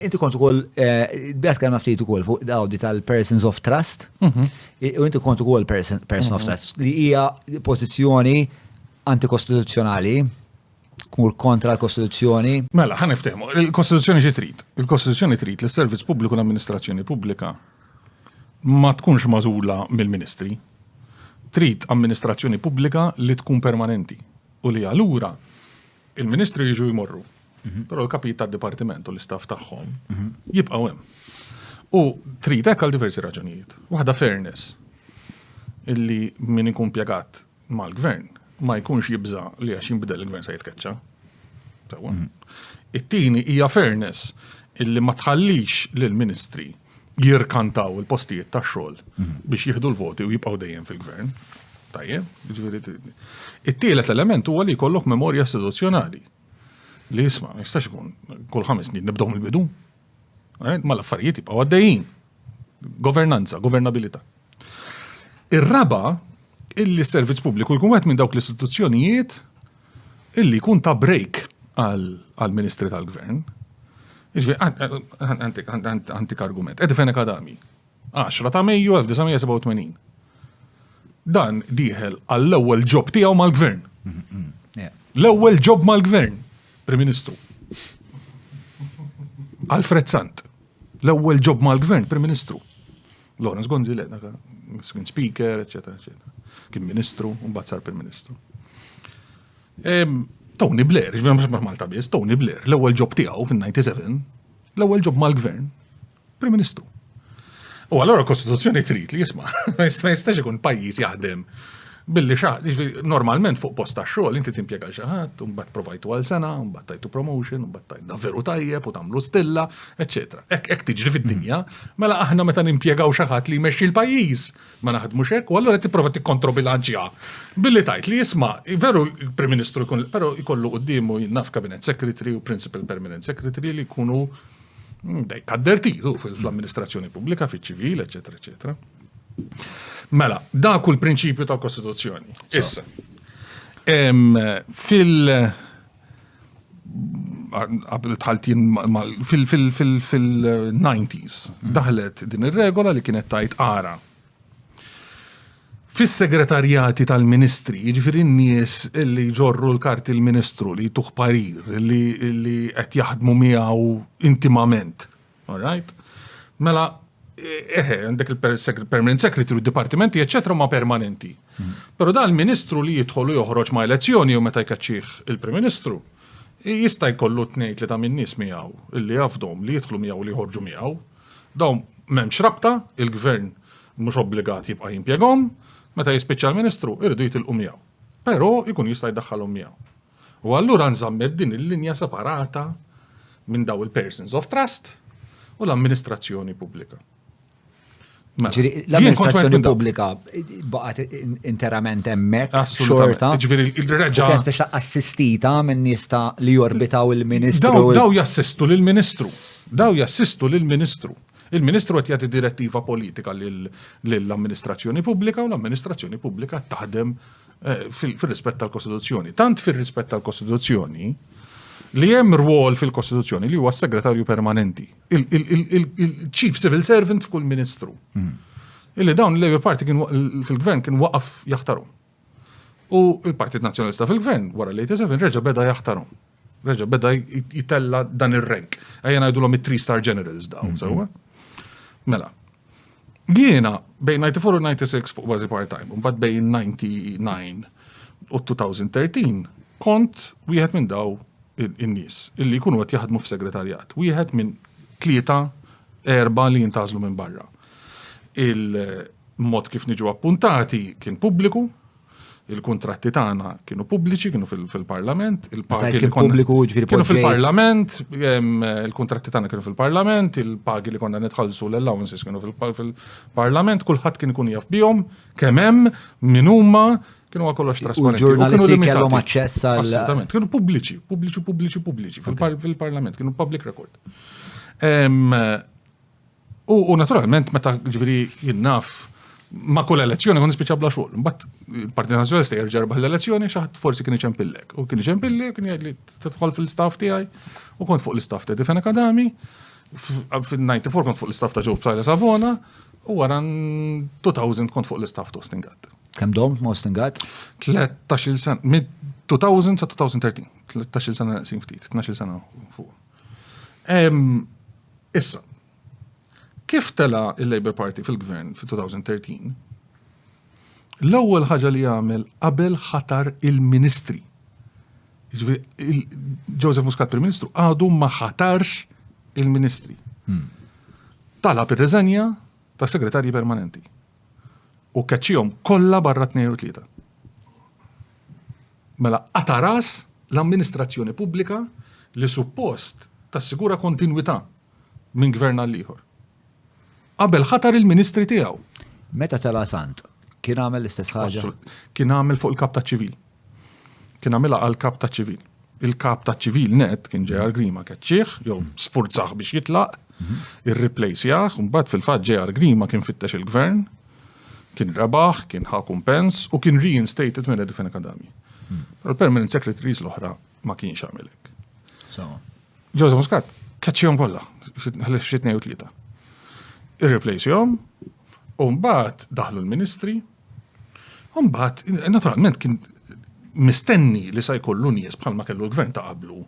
Inti kont ukoll, eh, bħat kelma ftit ukoll fuq dawdi tal-persons of trust, mhm. u inti kont ukoll person of mhm. trust, li hija pożizzjoni antikostituzzjonali, kmur kontra l-Kostituzzjoni. Mela, ħan iftehmu, il-Kostituzzjoni xi trid? Il-Kostituzzjoni trid li s-servizz pubbliku l-amministrazzjoni pubblika ma tkunx mażula mill-ministri. Trid amministrazzjoni pubblika li tkun permanenti u li allura Il-ministri jiġu jmorru, però l-kapijiet tad-dipartiment u l-istaff tagħhom jibqgħu hemm. U trid hekk għal diversi raġunijiet. Waħda fairness illi min ikun pjegat mal-gvern ma jkunx jibża li għax jinbidel il-gvern se jitkeċċa. It-tieni hija fairness illi ma tħallix lill-ministri jirkantaw il-postijiet ta' xogħol mhm. biex jieħdu l-voti u jibqgħu dejjem fil-gvern. Tajjeb, jiġifieri It-tielet element huwa li jkollok memorja istituzzjonali. Li jisma' ma jistax ikun kull ħames snin nibdew mill-bidu. Eh, ma l-affarijiet jibqgħu għaddejjin. Governanza, governabilità. Ir-raba' illi s-servizz pubbliku jkun wieħed minn dawk l-istituzzjonijiet illi jkun ta' break għal-ministri tal-gvern. Għantik argument. Edi fejn akadami. 10 ta' Mejju 1987. Dan diħel għall-ewwel ġob tiegħu mal-gvern. L-ewwel ġob mal-gvern, Prim Ministru. Alfred Sant, l-ewwel ġob mal-gvern, Prim Ministru. Lawrence Gonzi li dak kien speaker, eċetera, eċetera. Kien ministru, u mbagħad sar Prim Ministru. Tony Blair, ġvien mhux ma' Malta biss, Tony Blair, l-ewwel ġob tiegħu fin-97, l-ewwel ġob mal-gvern, Prim Ministru. U allora l-Kostituzzjoni trid li jisma' ma jistax ikun pajjiż jaħdem Billi xa, jiġifieri normalment fuq post tax-xogħol inti timpjega xi ħadd, u mbagħad provajtu għal sena, u mbagħad tajtu promotion, u mbagħad tajna veru tajjeb u tagħmlu stilla, eċċetera. Hekk hekk tiġri fid-dinja, mela aħna meta nimpjegaw xi ħadd li jmexxi l-pajjiż ma naħdmux hekk, u allura qed tipprova tikkontrobilanċja billi tgħid li isma' veru Prim Ministru jkun però jkollu quddiemu naf Cabinet Secretary u Principal Permanent Secretary li jkunu dejk addertitu fl-amministrazzjoni pubblika, fiċ-ċivil, eċċetera, eċċetera. Mela, dak hu l-prinċipju tal-Kostituzzjoni. Issa. Fil- qabel tħaltin fil-90s mm. daħlet din ir-regola li kienet tajt ara Fis-segretarjati tal-ministri, jiġifieri n-nies li ġorru l-karti l-ministru li tuħ parir li qed jaħdmu miegħu intimament. All right. Mela, eħe, għandek il-permanent secretary, dipartimenti, eccetera, ma permanenti. Hmm. Pero da l-ministru li jidħol u joħroġ ma elezzjoni u meta jkaċċih il-prim ministru, jista' jkollu tnejn li ta' minn nies miegħu li jafdom li jidħlu miegħu li jħorġu miegħu. Dawn m'hemmx rabta, il-gvern mhux obbligat jibqa' jimpjegom, meta jispiċċa l-ministru irridu jitilqu miegħu. Pero jkun jista' jdaħħalhom miegħu. U allura nżammet din il-linja separata minn daw il-persons of trust u l-amministrazzjoni pubblika. Mela, Ġiri, jien kont wieħed l-amministrazzjoni minn daw. pubblika baqgħet in- interament hemmhekk Assolutament. xorta. Ġifieri, u il-reġa- kienet biex ta' assistita minn nies ta' li jorbitaw il-Ministru. Daw, daw jassistu lill-Ministru. Daw jassistu lill-Ministru. Il-Ministru qed jagħti direttiva politika lil- lill-amministrazzjoni pubblika u l-amministrazzjoni pubblika taħdem eh, fil-rispett tal-Kostituzzjoni. Tant fil-rispett tal-Kostituzzjoni li hemm rwol fil-Kostituzzjoni li huwa segretarju permanenti, il-Chief Civil Servant f'kull Ministru. Hmm. Illi dawn l-Labour Party fil-gvern kien waqaf jaħtaru. U il-Partit Nazzjonalista fil-gvern wara l-87 reġa' beda jaħtaru. Reġa' beda jitella dan ir-rank. Ejja ngħidulhom it-three star generals dawn, mhm. sewwa. Mela. Jiena bejn 94 u 96 fuq bażi part-time, u mbagħad bejn 99 u 2013 kont wieħed minn daw in-nies illi jkunu qed jaħdmu f'segretarjat. Wieħed minn tlieta erba li jintażlu minn barra. Il-mod kif niġu appuntati kien pubbliku, il-kontratti tagħna kienu pubbliċi, kienu fil-parlament, il-pagi li konna. Jiġifieri kienu fil-parlament, il-kontratti tagħna kienu fil-parlament, il-pagi li konna nitħallsu l-allowances kienu fil-parlament, kulħadd kien ikun jaf bihom, kemm hemm, min huma, kienu għal kollox trasparenti. Ġurnalisti kellhom aċċess għal. Assolutament, kienu pubbliċi, pubbliċi, pubbliċi, pubbliċi, fil-parlament, kienu public record. U naturalment, meta ġviri jinnaf ma kull elezzjoni kun nispiċa bla xogħol. Mbatt, il-Partit Nazzjonalista jerġa' rebaħ l-elezzjoni xaħat forsi kien iċempillek. U kien iċempilli kien jgħidli tidħol fil-staff tiegħi u kont fuq l-istaff ta' Difen Akadami, fil-94 kont fuq l-istaff ta' Ġob Tajla Savona u wara 2000 kont fuq l-istaff ta' Ostingat. Kem dom ma' Ostingat? 13 sen, mid 2000 sa' 2013, 13 sena naqsin ftit, 12 sena fuq. Issa, kif tela il-Labour Party fil-gvern fil-2013, l-ewwel ħaġa li għamel qabel ħatar il-ministri. Joseph Muscat Prim Ministru għadu ma ħatarx il-ministri. Hmm. Talab ir-reżenja ta' segretarji permanenti. U keċċihom kollha barra 2 u 3. Mela qata' ras l-amministrazzjoni pubblika li suppost tassigura kontinwità minn Gvern għal ieħor. Qabel ħatar il-Ministri tiegħu. Meta tela' Sant, kien għamel l-istess ħaġa? Kien għamel fuq il-Kap taċ-Ċivil. Kien għamilha għall-Kap taċ-Ċivil. Il-Kap taċ-Ċivil nett kien J.R. Grima keċċieh jew sfurzah biex jitlaq, irriplejsjah, imbagħad fil-fatt J.R. Grima kien fittex il-Gvern, Kien rebaħ, kien ħa kumpens u kien reinstated minn Edifin Akadami. Hmm. Pero l-permanent secretaries l-oħra ma kienx għamilek. Joseph Muscat, kaċċijom kolla, xitnej u tlieta. Irreplace jom, u mbagħad daħlu l-ministri, u mbagħad, naturalment, kien mistenni li sa jkollu nies bħalma kellu l-gvern ta' qablu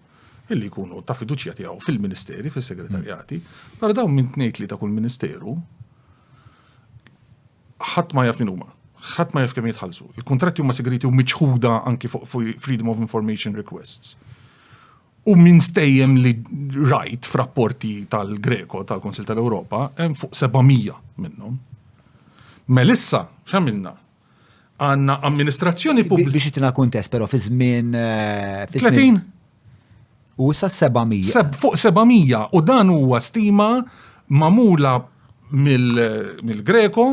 illi jkunu ta' fiduċja tiegħu fil-ministeri, fil-segretarjati, però dawn minn tnejt li ta' kull ministeru ħadd ma jaf min huma. Ħadd ma jaf kemm jitħallsu. Il-kuntratti huma segreti u miċħuda anki fuq Freedom of Information Requests. U minn stejjem li rajt f'rapporti tal-Greko tal-Konsil tal-Ewropa hemm fuq 700 minnhom. Melissa, x'għamilna? Għanna amministrazzjoni pubblika. Biex itina kuntest, pero fi żmien. 30? Eh, u sa 700. Fuq 700 u dan huwa stima mamula mill-Greko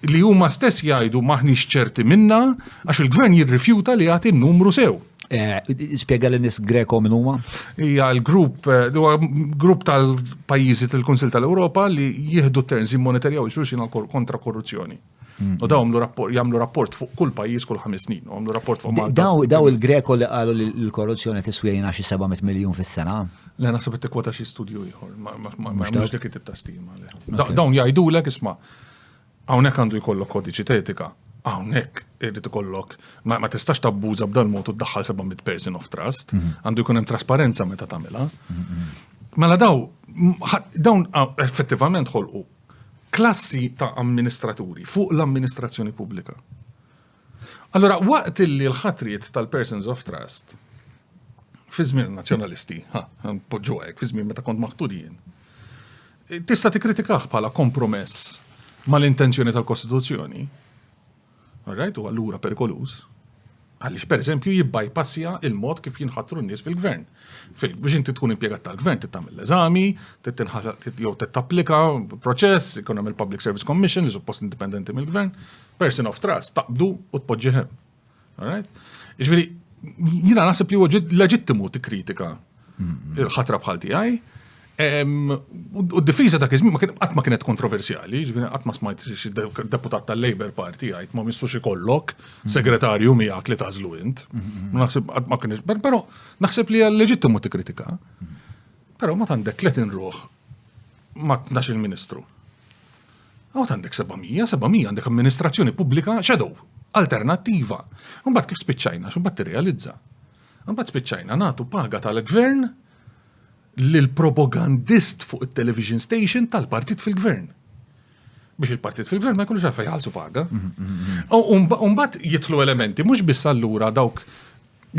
li huma stess jgħidu maħniex ċerti minna għax il-gvern jirrifjuta li jagħti n-numru sew. Eh, Spiega l nis Greko minn huma? Hija l-grupp, eh, huwa grupp tal-pajjiżi tal-Kunsil tal-Ewropa li jieħdu terms jimmonetarjaw xulxin kontra korruzzjoni. U daw jagħmlu rapport fuq kull pajjiż kull ħames snin, u għamlu rapport fuq Malta. Daw daw il-Greko li qalu li l-korruzzjoni tiswejna xi 700 miljun fis-sena. Le naħseb qed tikkwota xi studju ieħor, ma mhux dik it-tip ta' stima. Dawn jgħidulek isma' hawnhekk għandu jkollok kodiċi tetika, hawnhekk irid ikollok ma tistax tabbuża b'dan mod u ddaħħal 700 person of trust, mhm. għandu jkun hemm trasparenza meta tagħmilha. Mhm, mhm. Mela daw, dawn effettivament ħolqu klassi ta' amministraturi fuq l-amministrazzjoni pubblika. Allura, waqt li l-ħatriet tal-persons of trust fi żmien nazzjonalisti, ha, poġġu hekk, fi żmien meta kont maħtur jien, tista' tikkritikah bħala kompromess mal-intenzjoni tal-Kostituzzjoni, All right, u allura perikoluż għaliex pereżempju jibbajpassja il-mod kif jinħatru n-nies fil-gvern. Biex inti tkun impjegat tal-gvern trid tagħmel l-eżami, jew trid tapplika proċess, ikun hemm il-Public Service Commission li suppost indipendenti mill-gvern, person of trust taqbdu u tpoġġi hemm. Jiġifieri jiena naħseb li huwa leġittimu tikkritika il-ħatra bħal tiegħi. U d-difiża dak iż-żmien qatt ma kienet kontroversjali, ġifieri qatt ma smajt xi deputat tal-Labour Party jgħid ma missux ikollok segretarju miegħek li tażlu int. Naħseb qatt ma kienx, però naħseb li hija leġittimu tikkritika. Però ma għandek tlet inruħ ma tnax il-Ministru. Għaw għandek 700, 700 għandek amministrazzjoni pubblika shadow, alternattiva. Mbagħad kif spiċċajna, x'mbagħad tirrealizza. Imbagħad spiċċajna nagħtu paga tal-gvern lil propagandist fuq it-television station tal-partit fil-gvern. Biex il-partit fil-gvern ma jkunux għalfej jħallsu paga. Umbat jitlu elementi, mhux biss allura dawk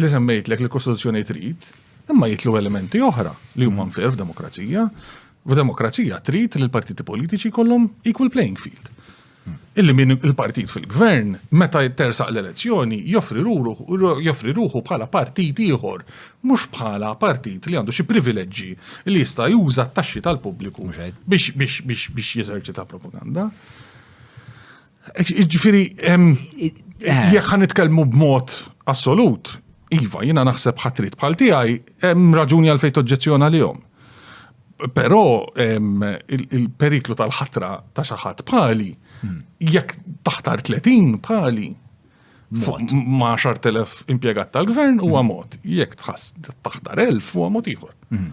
li semmejtlek li kostituzzjoni trid, imma jitlu elementi oħra li huma nfir f'demokrazija. F'demokrazija trid li l-partiti politiċi kollhom equal playing field. illi min il-partit fil-gvern, meta jittersaq l-elezzjoni, joffri ruħu bħala partit ieħor, mhux bħala partit li għandu xi privileġġi li jista' juża t-taxxi tal-pubbliku biex jeżerċita propaganda. Jiġifieri, jekk ħa nitkellmu b'mod assolut, iva, jiena naħseb ħatrit bħal tiegħi hemm raġuni għalfejn toġġezzjona lihom. Però il-periklu tal-ħatra ta' xi ħadd pali, hmm. jekk taħtar 30 pali, ma' 10,000 impjegat tal-gvern huwa hmm. mod. Jekk taħtar 1000 huwa mod ieħor. Hmm.